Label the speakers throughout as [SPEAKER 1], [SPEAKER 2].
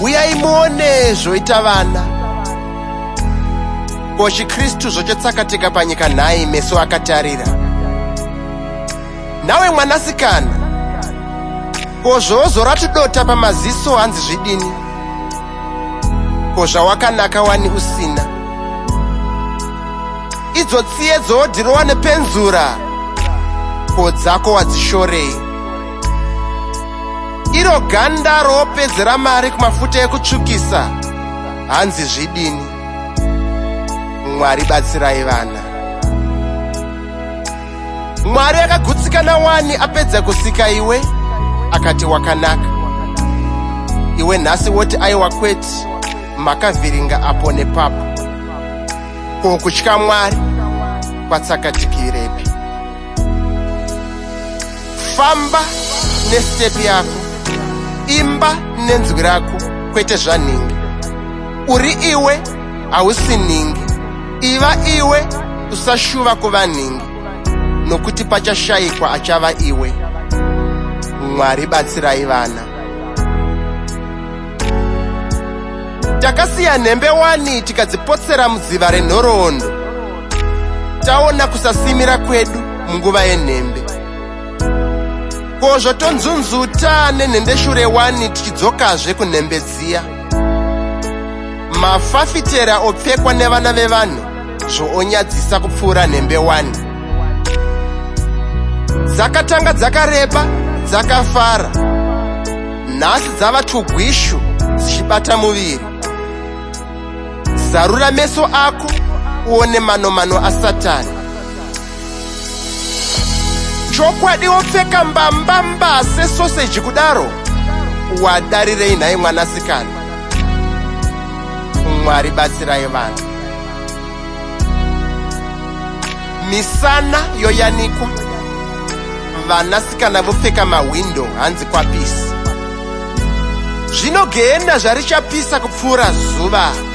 [SPEAKER 1] uyai muone zvoita vana ko chikristu zvochotsakatika panyika nhai meso akatarira nawe mwanasikana ko zvoozora tudota pamaziso hanzi zvidini ko zvawakanaka wani usina idzo tsiye dzoodhirowa nepenzura ko dzako wadzishorei iro ganda roopedzera mari kumafuta ekutsvukisa hanzi zvidini mwari batsirai vana mwari akagutsikana wani apedza kusika iwe akati wakanaka iwe nhasi woti aiwa kweti makavhiringa apo nepapo ko kutya mwari kwatsakatikirepi Famba nestep yako, imba nenzwi rako, kwete zvanhingi. Uri iwe, hausi nhingi. Iva iwe, usashuva kuva nhingi, nokuti pachashayikwa achava iwe. Mwari batsirai vana. Takasiya nhembe wani tikadzipotsera mudziva renhoroondo. Taona kusasimira kwedu munguva yenhembe ko zvotonzunzuta nenhende shure wani tichidzokazve kunhembe dziya mafafitera opfekwa nevana vevanhu zvoonyadzisa kupfuura nhembe wani dzakatanga dzakareba dzakafara nhasi dzava tugwishu dzichibata muviri zarura meso ako uone manomano asatani chokwadi wopfeka mbambamba sesoseji kudaro wadarirei nhai mwanasikana mwari batsirai vanhu misana yoyanikwa vanasikana vopfeka mahwindo hanzi kwapisi zvino gehena zvarichapisa kupfuura zuva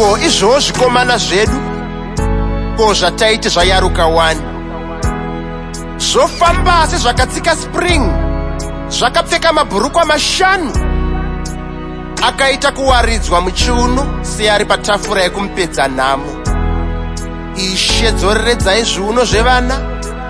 [SPEAKER 1] ko izvoo zvikomana zvedu ko zvataiti zvayaruka wani zvofamba asi zvakatsika spring zvakapfeka mabhurukwa mashanu akaita kuwaridzwa muchiuno seari patafura yekumupedza nhamo ishe dzoreredzai zviuno zvevana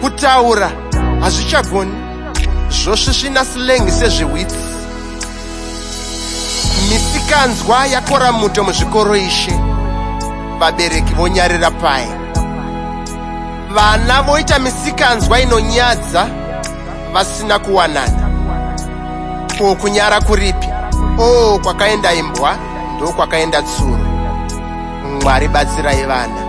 [SPEAKER 1] kutaura hazvichagoni zvosvisvina silengi sezvewitsi misikanzwa yakora muto muzvikoro ishe vabereki vonyarira paye vana voita misikanzwa inonyadza vasina kuwanana ko kunyara kuripi o oh, kwakaenda imbwa ndokwakaenda tsuro mwari batsirai vana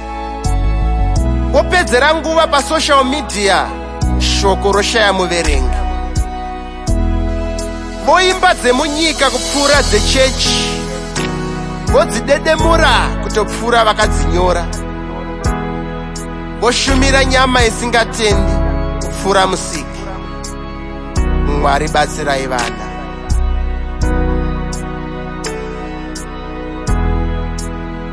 [SPEAKER 1] opedzera nguva pasocial media shoko roshaya muverengi voimba dzemunyika kupfuura dzechechi vodzidedemura kutopfuura vakadzinyora voshumira nyama isingatendi kupfuura musiki mwari batsirai vana